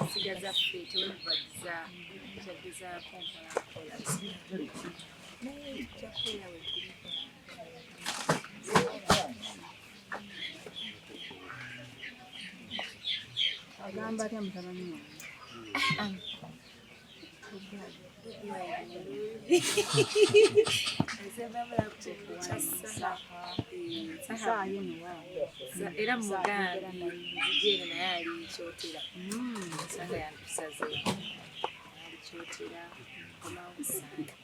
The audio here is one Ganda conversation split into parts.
ensiga zaffe tewebagiza kyagezaako nkolakola naye kyakubeera wetuli agamba atya mutabani wange era muganda jere naye ali kyotera sanga yantusaze ali kyotera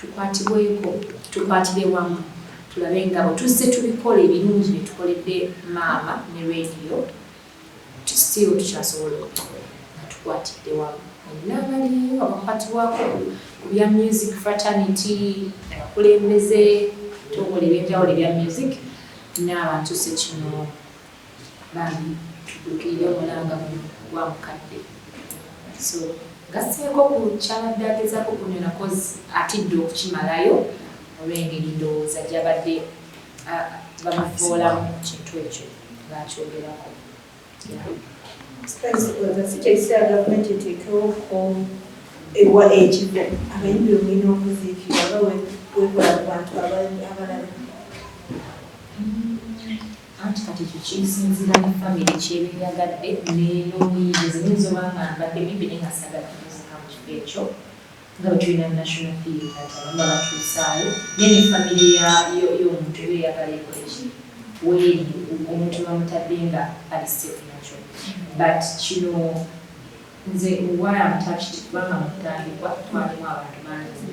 Tukwatibweko, tukwatire wamu tulabe nga bwe tuzze tubikola ebirungi bye tukoledde maama ne leediyo, still tukyasobola okubikola nga tukwatidde wamu. Mwenna abaliyo abakwatibwako ku bya music fraternity, abakulembeze, ebitongole eby'enjawulo ebya music n'abantu ssekinnoomu. Bambi tuddukirire omulanga guno gwa mukadde. So gasseeko ku kyabadde agezaako kunyona kozi atidde okukimalayo olw'engeri ndowooza gyabadde bamuvoolamu kintu ekyo ng'akyogerako. Sikyekiseera gavumenti eteekewo ewa ekifo abayimbi omulina okuziikira oba wekola ku bantu abalala Anti kati ekyo kisinzira ne family kyeba eyagadde nenomuyiiya nze nyinza oba nga mbadde muyimbi naye nga sagala kutuzika mukifo ekyo nga bwetulina national theatre nti abamu babatuusaayo naye ne family yomuntu eba eyagala ekoleki weeri omuntu bamutadde nga ali safe nakyo but kino nze why am touched kubanga mukutandikwa twalimu abantu bangi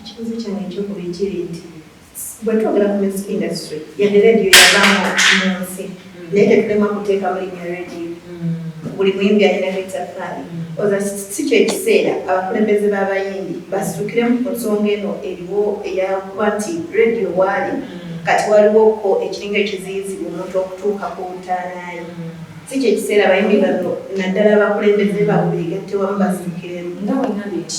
Ekibuuzo kyange ekyokubiri kiri nti bwetwogera ku music industry yadde radio yavamu munsi naye tetulemwa kuteekamu linya radio buli muyimbi alina bitafaali oza si kyekiseera abakulembeze b'abayimbi basitukiremu ku nsonga eno eriwo eyakuba nti radio waali kati waliwo ko ekiringa ekiziyizibu omuntu okutuuka ku ntaanaye si kyekiseera abayimbi bano naddala abakulembeze baabwe beegatte wamu basitukiremu nga wengambye nti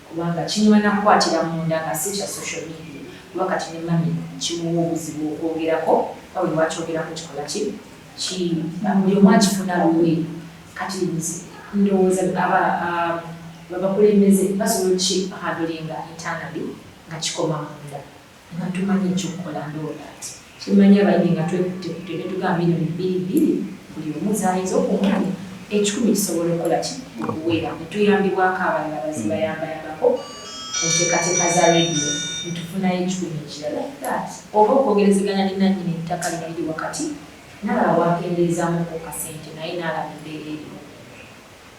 Kubanga kinywana kukwatira munda nga si kya social media kuba kati ne mummy kimuwa obuzibu okwogerako nga buli lwakyogerako kikola ki? Ki, buli omu akifuna lulwe. Kati nze ndowooza aba, um, abakulembeze basobola ki handling internally nga kikoma munda. Nga tumanyi ekyokukola and all that. Kimanya abayimbi nga twekutte kutte netugamba million bbiri bbiri buli omu zayinza okumwanya ekikumi kisobola okukola ki okuwera netuyambibwako abalala bazibayambayambako kuntekateka za radio netufunayo ekikumi ekira like that oba okwogerezeganya ne nanyini ettaka lino liri wakati nalaba wakendeezamuko kasente naye nalaba embeera eriwo.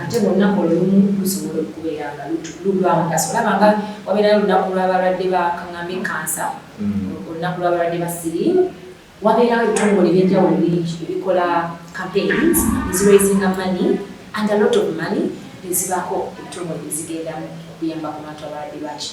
ate munaku olumu lusobola okubeera nga lulwamugaso olaba nga wabeerayo olunaku lwabalwadde bakaŋambe kansa mm. olunaku lwabalwadde ba siriimu wabeerawo ebitongole ebyenjawulo bingi ebikola campaigns eziraisinga money and a lot of money nezibaako ebitongole ezigendamu okuyamba ku bantu abalwadde baki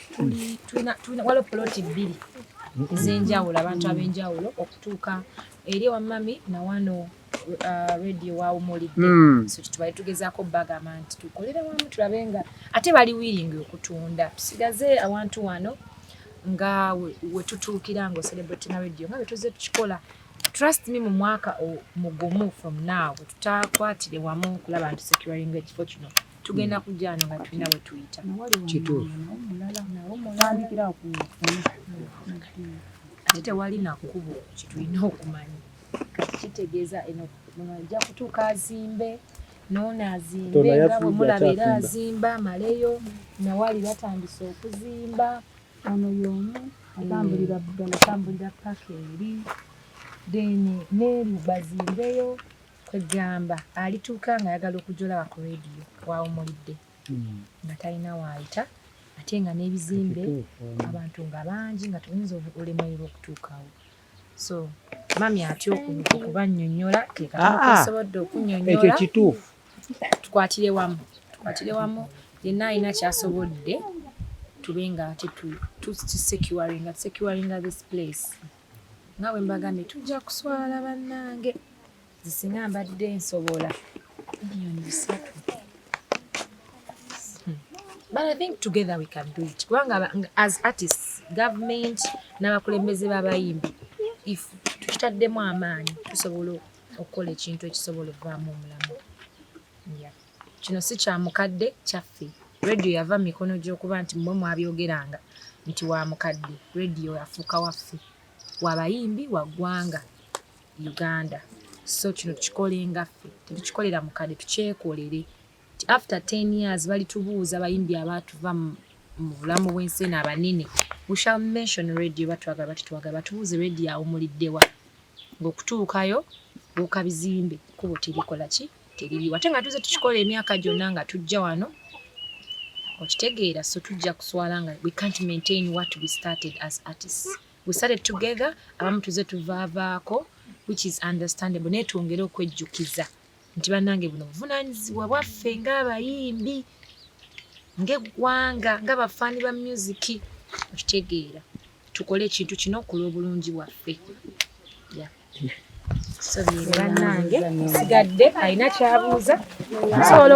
waliwo poloti bbiri ez'enjawulo abantu ab'enjawulo okutuuka eri ewamami nawano uh, radio wawumulidde hmm. so kitubali tugezaako bagamba nti tukolere wamu tulabe nga ate bali wiringi okutunda tusigaze awantu wano nga wetutuukira nga ocelebrate na radio nga bwetuze tukikola trust me mu mwaka mugumu from now tutakwatire wamu okulaba nti securinga ekifo kino tugenda kujja wano nga tulina bwe tuyita kituufu tandikira ku ate tewali nakkubo kyetulina okumanya kitegeeza eno muno ajja kutuuka azimbe noono azimbe nga bwe mulaba era azimba amaleyo nawali batandise okuzimba ono yomu atambulira bugala atambulira paka eri then neeri bazimbeyo kwegamba alituuka nga ayagala okujolaba ku radio wawumulidde hmm. nga talina waayita ate nga n'ebizimbe hmm. abantu nga bangi nga tuyinza olemererwa okutuukawo so mami atya okubanyonyola tekaasobodde ah, ah. okunyonyola ekyo kituufu tukwatire wamu tukwatire wamu yenna alina kyasobodde tube nga tetusecuringa securinga this place nga bwe mbagambye tujja kuswala bannange zisinga mbadde nsobola biliyoni bisatu hmm. but i think together we can do it kubanga as artists government n'abakulembeze b'abayimbi if tukitaddemu amaanyi tusobola okukola ekintu ekisobola okuvaamu omulamu yeah. Kino si kya mukadde, kyaffe. Radio yava mu mikono gy'okuba nti mmwe mwabyogeranga nti wa mukadde. Radio yafuuka waffe, wa bayimbi, wa ggwanga Uganda. So kino tukikolenga ffe, tetukikolera mukadde, tukyekolere. Nti after ten years balitubuuza bayimbi abaatuva mu mu bulamu bw'ensi eno abanene we shall mention radio batwagala batitwagala batubuuze radio awumuliddewa ngaokutuukayo buuka bizimbe kubo terikola ki teririwo ate nga tuze tukikola emyaka gyonna nga tujja wano okitegeera so tujja kuswala nga we can't maintain what we started as artists we started together abamu tuze tuvaavaako which is understandable naye twongere okwejjukiza nti bannange buno buvunaanyizibwa bwaffe ng'abayimbi ng'eggwanga ng'abafaani ba myuziki okitegeera tukole ekintu kino okulwa obulungi bwaffe yeah. bannange sigadde alina kyabuuza nsobola